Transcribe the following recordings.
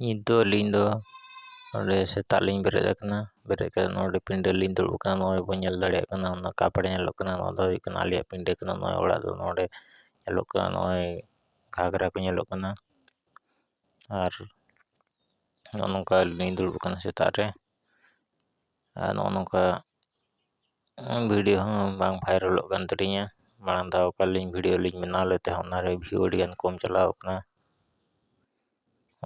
ᱱᱤᱛ ᱫᱚ ᱟᱹᱞᱤᱧ ᱫᱚ ᱱᱚᱰᱮ ᱥᱮᱛᱟᱜ ᱞᱤᱧ ᱵᱮᱨᱮᱫ ᱟᱠᱟᱱᱟ ᱵᱮᱨᱮᱫ ᱠᱟᱛᱮᱫ ᱱᱚᱰᱮ ᱯᱤᱸᱰᱟᱹ ᱨᱮᱞᱤᱧ ᱫᱩᱲᱩᱵ ᱟᱠᱟᱱᱟ ᱱᱚᱜᱼᱚᱭ ᱵᱚᱱ ᱧᱮᱞ ᱫᱟᱲᱮᱭᱟᱜ ᱠᱟᱱᱟ ᱚᱱᱟ ᱠᱟᱯ ᱨᱮ ᱧᱮᱞᱚᱜ ᱠᱟᱱᱟ ᱱᱚᱣᱟ ᱫᱚ ᱦᱩᱭᱩᱜ ᱠᱟᱱᱟ ᱟᱞᱮᱭᱟᱜ ᱯᱤᱸᱰᱟᱹ ᱠᱟᱱᱟ ᱱᱚᱜᱼᱚᱭ ᱚᱲᱟᱜ ᱫᱚ ᱱᱚᱰᱮ ᱧᱮᱞᱚᱜ ᱠᱟᱱᱟ ᱱᱚᱜᱼᱚᱭ ᱜᱷᱟᱜᱽᱨᱟ ᱠᱚ ᱧᱮᱞᱚᱜ ᱠᱟᱱᱟ ᱟᱨ ᱱᱚᱜᱼᱚ ᱱᱚᱝᱠᱟ ᱟᱹᱞᱤᱧ ᱞᱤᱧ ᱫᱩᱲᱩᱵ ᱟᱠᱟᱱᱟ ᱥᱮᱛᱟᱜ ᱨᱮ ᱟᱨ ᱱᱚᱜᱼᱚ ᱱᱚᱝᱠᱟ ᱵᱷᱤᱰᱭᱳ ᱦᱚᱸ ᱵᱟᱝ ᱵᱷᱟᱭᱨᱟᱞᱚᱜ ᱠᱟᱱ ᱛᱟᱹᱞᱤᱧᱟ ᱢᱟᱲᱟᱝ ᱫᱷᱟᱣ ᱚᱠᱟ ᱞᱤᱧ ᱵᱷᱤᱰᱭᱳ ᱞᱤᱧ ᱵᱮᱱᱟᱣ ᱞᱮᱫ ᱛᱟᱦᱮᱸᱫ ᱚᱱᱟᱨᱮ ᱵᱷᱤᱭᱩ ᱟᱹᱰᱤᱜᱟᱱ ᱠᱚᱢ ᱪᱟᱞᱟᱣ ᱠᱟᱱᱟ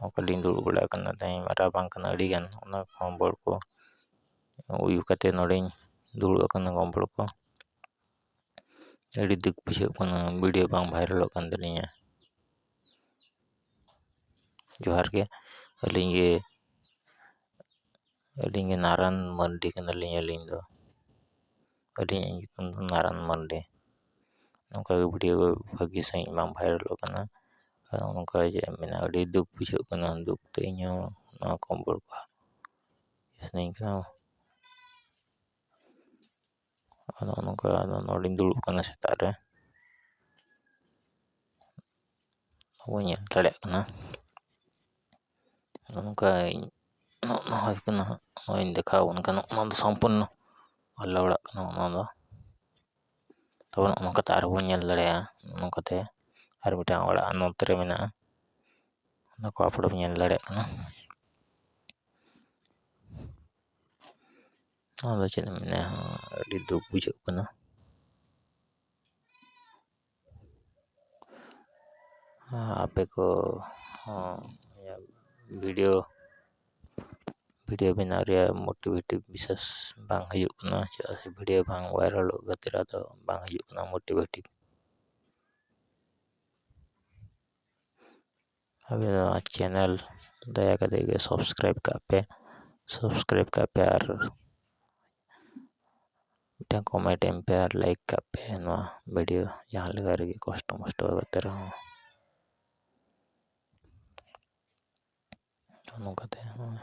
ᱚᱠᱟ ᱞᱤᱧ ᱫᱩᱲᱩᱵ ᱵᱟᱲᱟ ᱠᱟᱱᱟ ᱛᱮᱦᱮᱧ ᱢᱟᱨᱟᱣ ᱵᱟᱝ ᱠᱟᱱᱟ ᱟᱹᱰᱤᱜᱟᱱ ᱚᱱᱟ ᱠᱚᱦᱚᱸ ᱵᱚᱞ ᱠᱚ ᱩᱭᱩ ᱠᱟᱛᱮ ᱱᱚᱰᱮᱧ ᱫᱩᱲᱩᱵ ᱟᱠᱟᱱᱟ ᱜᱚᱢᱵᱚᱲ ᱠᱚ ᱟᱹᱰᱤ ᱫᱩᱠ ᱵᱩᱡᱷᱟᱹᱜ ᱠᱟᱱᱟ ᱵᱷᱤᱰᱭᱳ ᱵᱟᱝ ᱵᱷᱟᱭᱨᱟᱞᱚᱜ ᱠᱟᱱ ᱛᱟᱹᱞᱤᱧᱟ ᱡᱚᱦᱟᱨ ᱜᱮ ᱟᱹᱞᱤᱧ ᱜᱮ ᱟᱹᱞᱤᱧ ᱜᱮ ᱱᱟᱨᱟᱱ ᱢᱟᱹᱱᱰᱤ ᱠᱟᱱᱟᱞᱤᱧ ᱟᱹᱞᱤᱧ ᱫᱚ ᱟᱹᱞᱤᱧᱟᱜ ᱧᱩᱛᱩᱢ ᱫᱚ ᱱᱟᱨᱟᱱ ᱢᱟᱹᱱᱰᱤ ᱱᱚᱝᱠᱟ ᱜᱮ ᱵᱷᱤᱰᱭᱳ ᱠᱚ ᱵᱷᱟᱹᱜᱤ ᱥᱟᱺᱦᱤᱡ ᱵᱟᱝ ᱵᱷᱟᱭᱨᱟᱞᱚᱜ ᱠᱟᱱᱟ ᱟᱨ ᱱᱚᱝᱠᱟ ᱡᱮ ᱢᱟᱱᱮ ᱟᱹᱰᱤ ᱫᱩᱠ ᱵᱩᱡᱷᱟᱹᱜ ᱠᱟᱱᱟ ᱫᱩᱠ ᱛᱮ ᱤᱧ ᱦᱚᱸ ᱱᱚᱣᱟ ᱠᱚ ᱥᱟᱱᱟᱧ ᱠᱟᱱᱟ ᱟᱫᱚ ᱱᱚᱝᱠᱟ ᱟᱫᱚ ᱱᱚᱰᱮᱧ ᱫᱩᱲᱩᱵ ᱠᱟᱱᱟ ᱥᱮᱛᱟᱜ ᱨᱮ ᱵᱟᱹᱧ ᱧᱮᱞ ᱫᱟᱲᱮᱭᱟᱜ ᱠᱟᱱᱟ ᱟᱫᱚ ᱱᱚᱝᱠᱟᱧ ᱱᱚᱜᱼᱚ ᱱᱚᱣᱟ ᱦᱩᱭ ᱠᱟᱱᱟ ᱦᱟᱸᱜ ᱱᱚᱜᱼᱚᱭᱤᱧ ᱫᱮᱠᱷᱟᱣ ᱟᱵᱚᱱ ᱠᱟᱱᱟ ᱱᱚᱜᱼᱚ ᱱᱚᱣᱟ ᱫᱚ ᱥᱚᱢᱯᱩᱨᱱᱚ ᱟᱞᱮ ᱚᱲᱟᱜ ᱠᱟᱱᱟ ᱱᱚᱜᱼᱚ ᱱᱚᱣᱟ ᱫᱚ ᱛᱚᱵᱮ ᱱᱚᱜᱼᱚ ᱱᱚᱝᱠᱟ ᱛᱮ ᱟᱨᱦᱚᱸ ᱵᱚᱱ ᱧᱮᱞ ᱫᱟᱲᱮᱭᱟᱜᱼᱟ ᱱᱚᱜᱼᱚ ᱱᱚᱝᱠᱟ ᱛᱮ ᱟᱨ ᱢᱤᱫᱴᱟᱱ ᱚᱲᱟᱜ ᱱᱚᱛᱮ ᱨᱮ ᱢᱮᱱᱟᱜᱼᱟ ᱚᱱᱟ ᱠᱚ ᱟᱯᱞᱳᱰ ᱧᱮᱞ ᱫᱟᱲᱮᱭᱟᱜ ᱠᱟᱱᱟ ᱟᱫᱚ ᱪᱮᱫ ᱮᱢ ᱢᱮᱱᱟ ᱟᱹᱰᱤ ᱫᱩᱠ ᱵᱩᱡᱷᱟᱹᱜ ᱠᱟᱱᱟ ᱟᱯᱮ ᱠᱚ ᱦᱚᱸ ᱵᱷᱤᱰᱤᱭᱳ ᱵᱷᱤᱰᱤᱭᱳ ᱵᱮᱱᱟᱣ ᱨᱮᱭᱟᱜ ᱢᱳᱴᱤᱵᱷᱮᱴᱤᱵᱷ ᱵᱤᱥᱮᱥ ᱵᱟᱝ ᱦᱩᱭᱩᱜ ᱠᱟᱱᱟ ᱪᱮᱫᱟᱜ ᱥᱮ ᱵᱷᱤᱰᱤᱭᱳ ᱵᱟᱝ ᱵᱷᱟᱭᱨᱟᱞᱚᱜ ᱠᱷᱟᱹᱛᱤᱨ ᱟᱫᱚ ᱵᱟᱝ ᱦᱩᱭᱩᱜ ᱠᱟᱱᱟ ᱢᱳᱴᱤᱵᱷᱮᱴᱤᱵᱷ ᱟᱵᱮᱱ ᱱᱚᱣᱟ ᱪᱮᱱᱮᱞ ᱫᱟᱭᱟ ᱠᱟᱛᱮ ᱜᱮ ᱥᱟᱵᱥᱠᱨᱟᱭᱤᱵᱽ ᱠᱟᱜ ᱯᱮ ᱥᱟᱵᱥᱠᱨᱟᱭᱤᱵᱽ ᱠᱟᱜ ᱯᱮ ᱟᱨ ᱢᱤᱫᱴᱟᱝ ᱠᱚᱢᱮᱱᱴ ᱮᱢ ᱯᱮ ᱟᱨ ᱞᱟᱭᱤᱠ ᱠᱟᱜ ᱯᱮ ᱱᱚᱣᱟ ᱵᱷᱤᱰᱤᱭᱳ ᱡᱟᱦᱟᱸ ᱞᱮᱠᱟ ᱨᱮᱜᱮ ᱠᱚᱥᱴᱚ ᱢᱚᱥᱴᱚ ᱠᱟᱛᱮ ᱨᱮᱦᱚᱸ ᱱᱚᱝᱠᱟᱛᱮ ᱱᱚᱜᱼᱚᱭ